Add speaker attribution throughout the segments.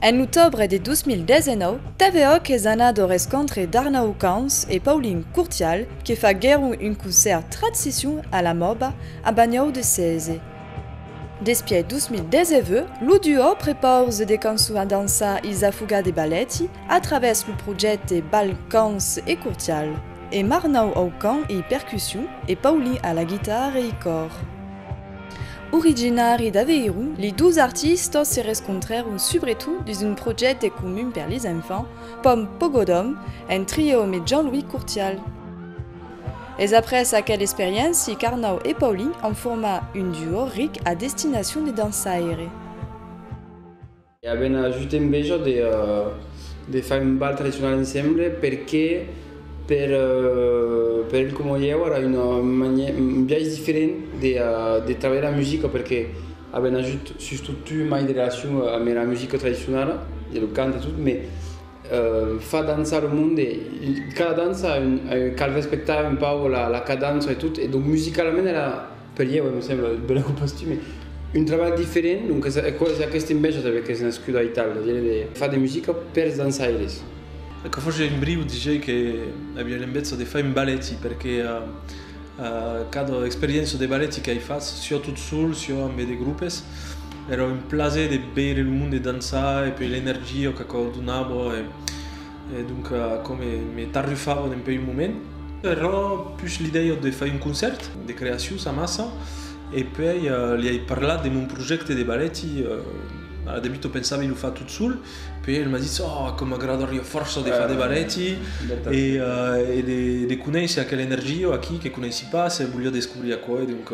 Speaker 1: En otòbre de 2019, TVOC es anat au rescontre d'Arnau Camps e Paulin Curtial que faguèron un concèrt Tratsicion a la Mòba a Banhòu de Cèze. Despièch 2019, lo duò prepause de cançons a dançar Isafuga de Baletti a travèrs lo projècte Bal Camps e Curtial. E Marnau au cant e percussion e Paulin a la guitarra e i còr. Originari d'Aveiro, li dos artistas se rescontrèron subretot dins un projècte comun per les enfants, Pom Pogodom, en trio me Jean-Louis Courtial. Es après aquel experiéncia qu'Arnau e Paulin an format un duo ric a destinacion de dançaire. E
Speaker 2: avèm just enveja de far un bal tradicional ensemble perque per el coma ieu ara un biais diferent de trabalhar la musica perque avèm just sustot tu e mai de relacion amb era musica tradicionala e lo cant e tot me fa dançar lo monde cada dança cal respectar un pauc la cadança e tot e donc musicalament era Per ieu, me sembla, de la copastumi, un trabalh diferent, doncas aquò es aquesta enveja tanben qu'es nascuda a Itàlia, dire de far de musica pers dançaires. Aquò faciá
Speaker 3: un briu diger que aviá l'enveja de far un baleti, perque cada experiéncia de baleti qu'ai fach, siá tot sol, siá ambe de grupes, èra un plaser de veire lo monde dançar e puèi l'energia qu'aquò donava. E donc comme me tarrufava d'un peu un moment. Era pus l'idèia de fai un concèrt de creacions amassa e puèi li ai parlat de mon projècte de balèti. Al debut o pensava de lo far tot sol, puèi el m'a ditz oh com m'agradariá fòrça de far de balèti e de conéisser aquela energia aquí que conéissi pas e voliá descobrir aquò e donc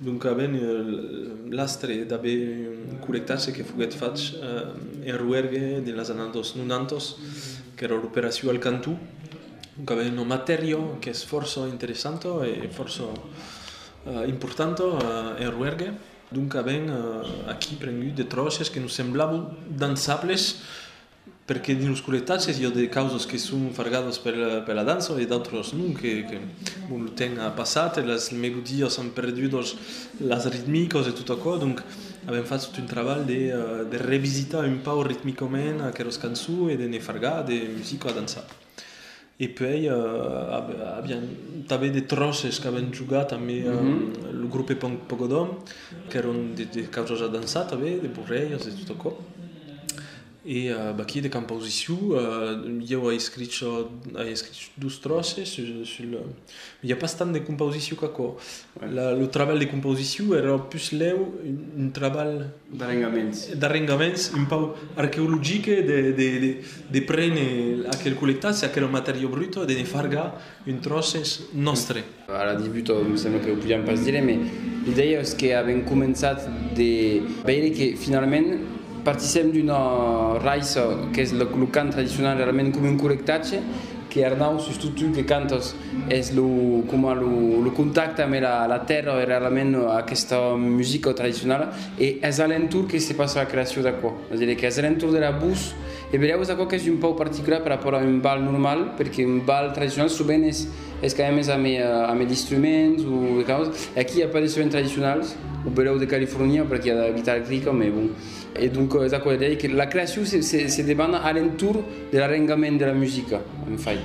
Speaker 3: Doncabèn l'astre d'aver un correctatge que foguèt fach en Roergue dins las annadas dos nonantas, qu'èra l'operacion al cantó, doncabèn una matèria qu'es fòrça interessanta e fòrça importanta en Roergue. Doncabèn aquí prengut de tròces que nos semblavan dançables. Perque dins los coletages i a de causas que son fargadas per la dança e d'autras non, que bon lo temps a passat e las melodias an perdut las ritmicas e tot aquò, donc avèm fach tot un trabalh de revisitar un pauc ritmicament aquelas cançons e de ne fargar de musica a dançar. E puèi avián tanben de tròces qu'avèn jogat amb lo grupe punk Pogodom, qu'èron de causas a dançar tanben, de borrèiras e tot aquò. E vaquí de campausissiu ieu ai escrich dos tròces sul N'i a pas tant de compausiciu qu'aquò. Lo trabalh de compausiciu èra puslèu un trabalh... D'arrengaments. D'arrengaments un pauc arqueologic e de prene aquel collectatge, aquela matèria bruta e de ne far gar un tròces nòstre. A la debuta
Speaker 2: me sembla que o podiam pas dire, mas l'idèia es qu'avèm començat de veire que finalament, Partisèm d'una raissa qu'es lo cant tradicional rarament coma un correctatge, que Arnau sus totu que cantas es lo coma lo contacte ambe la tèrra e rarament aquesta musica tradicionala e es a l'entorn que se passa la creacion d'aquò, a dire qu'es a l'entorn de la bus e berèu es aquò qu'es un pauc particular per rapòrt a un bal normal perque un bal tradicional sovent es Es qu'ai amés a me a me d'instruments o de causas e aquí i a pas de sement tradicionals o belèu de California per aquí i a de la guitarra electrica me bon e donc es aquò de dire que la creacion se se se debana a l'entorn de l'arrengament de la musica en fait.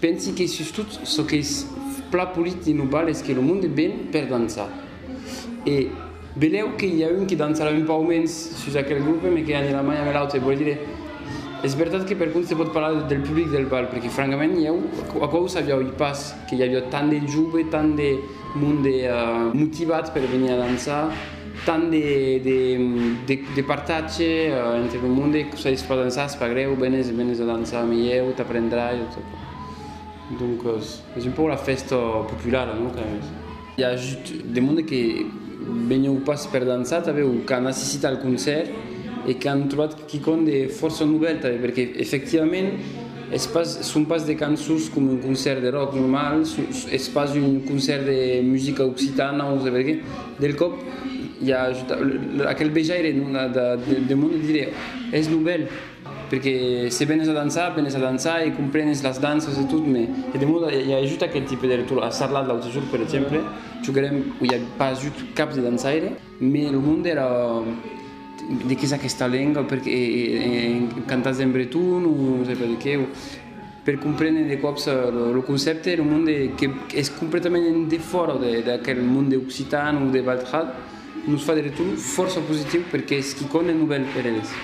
Speaker 2: Pensi que sustot çò qu'es pla polit dins lo bal es que lo monde ven per dançar. E belèu que i a un que dançarà un pauc mens sus aquel grupe me que anirà mai amb l'autre. Vòle dire, es vertat que per contra se pòt parlar del public del bal perque francament ieu aquò o sabiáuí pas que i aviá tant de jove, tant de monde motivat per venir a dançar. Tant de partatge entre lo monde que soi pas dançar es pas grèu venes venes a dançar me ieu t'aprendrai donc es un pauc la fèsta populara no qu'a es. I a just de monde que venèu pas per dançar tanben o qu'an assistit al concèrt e qu'an trobat Quicòm de fòrça novèl tanben perque efectivament son pas de cançons coma un concèrt de ròck normal, es pas un concèrt de musica occitana o saber qué, del còp i a aquel vejaire de monde de dire es novèl perque se venes a dançar, venes a dançar e comprenes las danças e tot mai e de monde i a just aquel tipe de retorn, a Sarlat l'autre jorn per exemple joguèrem, i a pas ajut cap de dançaire. Mès lo monde èra de qué es aquesta lenga? Perqué cantatz en breton? O non sai pas de qué? Per comprene de còps lo concèpte, lo monde qu'es completament en defòra d'aquel monde occitan o de Valtral, nos fa de retorn fòrça positiu perqué es quicòm de novèl per eles.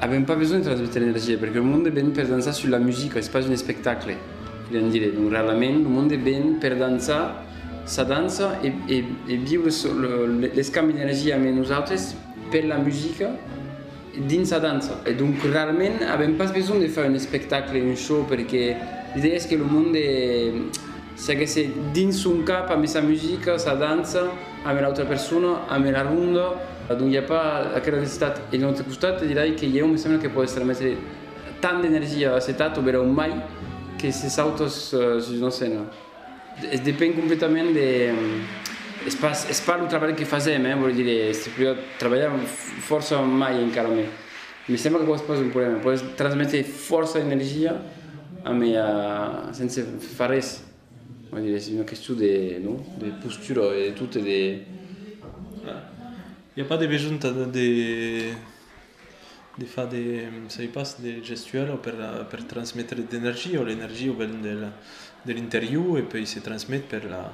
Speaker 2: Avèm pas besonh de transmetre energia, perque lo monde ven per dançar sus la musica, es pas un espectacle, volián dire. Donc realament lo monde ven per dançar sa dança e viure l'escambi d'energia amé nosautres per la musica. dins sa dança. E donc rarament avèm pas besonh de far un espectacle, un show, perque l'idèa es que lo monde seguesse dins son cap ambe sa musica, sa dança, ambe l'autra persona, ambe la ronda, donc i a pas aquela necessitat. E d'un autre costat dirai que ieu me sembla que pòde estar metre tant d'energia a cet atto, beròu mai que se sautas sus una scèna. Es depen completament de, es pas, es pas lo trabalh que fasèm, hein, vòl dire, se podiá trabalhar fòrça mai encara mai. Me sembla qu'aquò es pas un problèma, pòdes transmetre fòrça energia amb e sense far res, vòl dire, es una question de, no? de postura e de tot e de.
Speaker 3: Ai a pas de besonh tant de. De far de sai pas de gestuelle per per transmetre d'energia o l'energia o ven del de l'interior e pei se transmet per la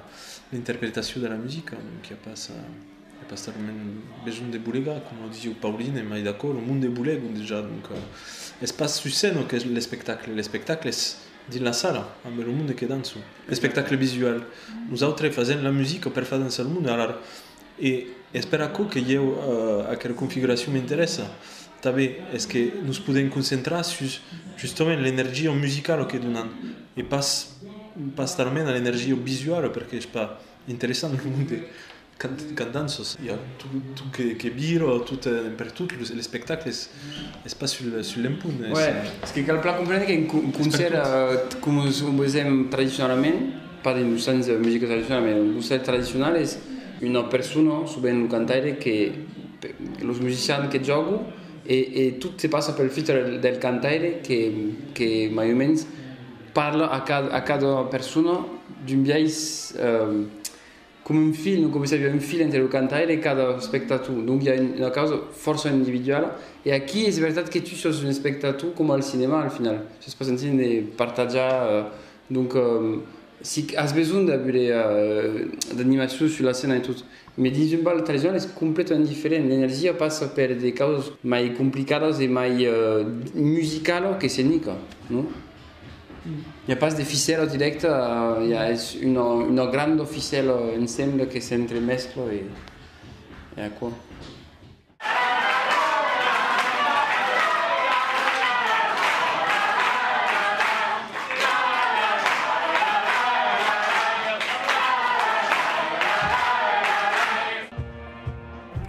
Speaker 3: l'interpretacion de la musica donc i a pas i a pas talament besonh de bolegar coma o disieu Pauline e mai d'acòrd lo monde bolega dejà donc es pas sus scèna qu'es l'espectacle l'espectacle es dins la sala amb lo monde que dança l'espectacle visual nosautres fasèm la musica per far dançar lo monde alara E es per aquò que ieu aquela configuracion m'interessa tanben, es que nos podèm concentrar sus justament l'energia musicala que donan e pas talament a l'energia visuala perque es pas interessant lo monde quand danças, i a tot que vira tot pertot, l'espectacle es pas sul lèm punt. Uèi, es que
Speaker 2: cal plan comprendre qu'un concèrt coma o vesèm tradicionalament, pas dins lo sens musica tradicionala, mai lo concept tradicional es una persona, sovent lo cantaire, que los musicians que jògo e tot se passa pel filtre del cantaire que mai o mens parla a cada persona d'un biais coma un fil, un còmple s'aviá un fil entre lo cantaire e cada espectator, donc i a una causa fòrça individuala e aquí es vertat que tu sos un espectator coma al cinema al final, sos pas en signe de partajar Donc si as besonh de veler d'animacion sus la scèna e tot, mai dins un bal tradicional es completament diferent, l'energia passa per de causas mai complicadas e mai musicala que scenica, non? I a pas de ficèla dirècta, i a es una granda ficèla ensemble que s'entremescla e aquò.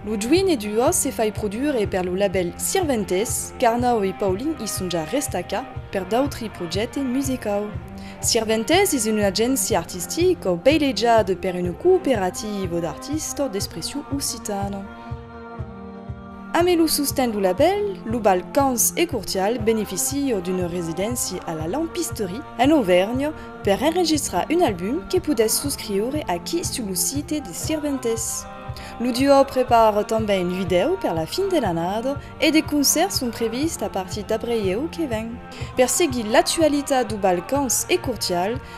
Speaker 1: Lo junh e d'ua se fai produire per lo labèl Sirventes, qu'Arnau e Paulin i son ja restacà per d'autri projècte musicau. Sirventes es una agéncia artistica beileja de per una cooperativa d'artistas d'expression occitana. Ame lo sosten do labèl, lo Balcans e Cortial beneficio d'una residéncia a la Lampisterie, en Auvernha, per enregistrar un album que podètz suscriure aquí sus lo site de Sirventes. Lo duò prepara tanben un vidèu per la fin de l'annada e de concèrts son prevists a partir d'abrelhèu que ven. Per seguir l'actualitat do Balcans e Cortial,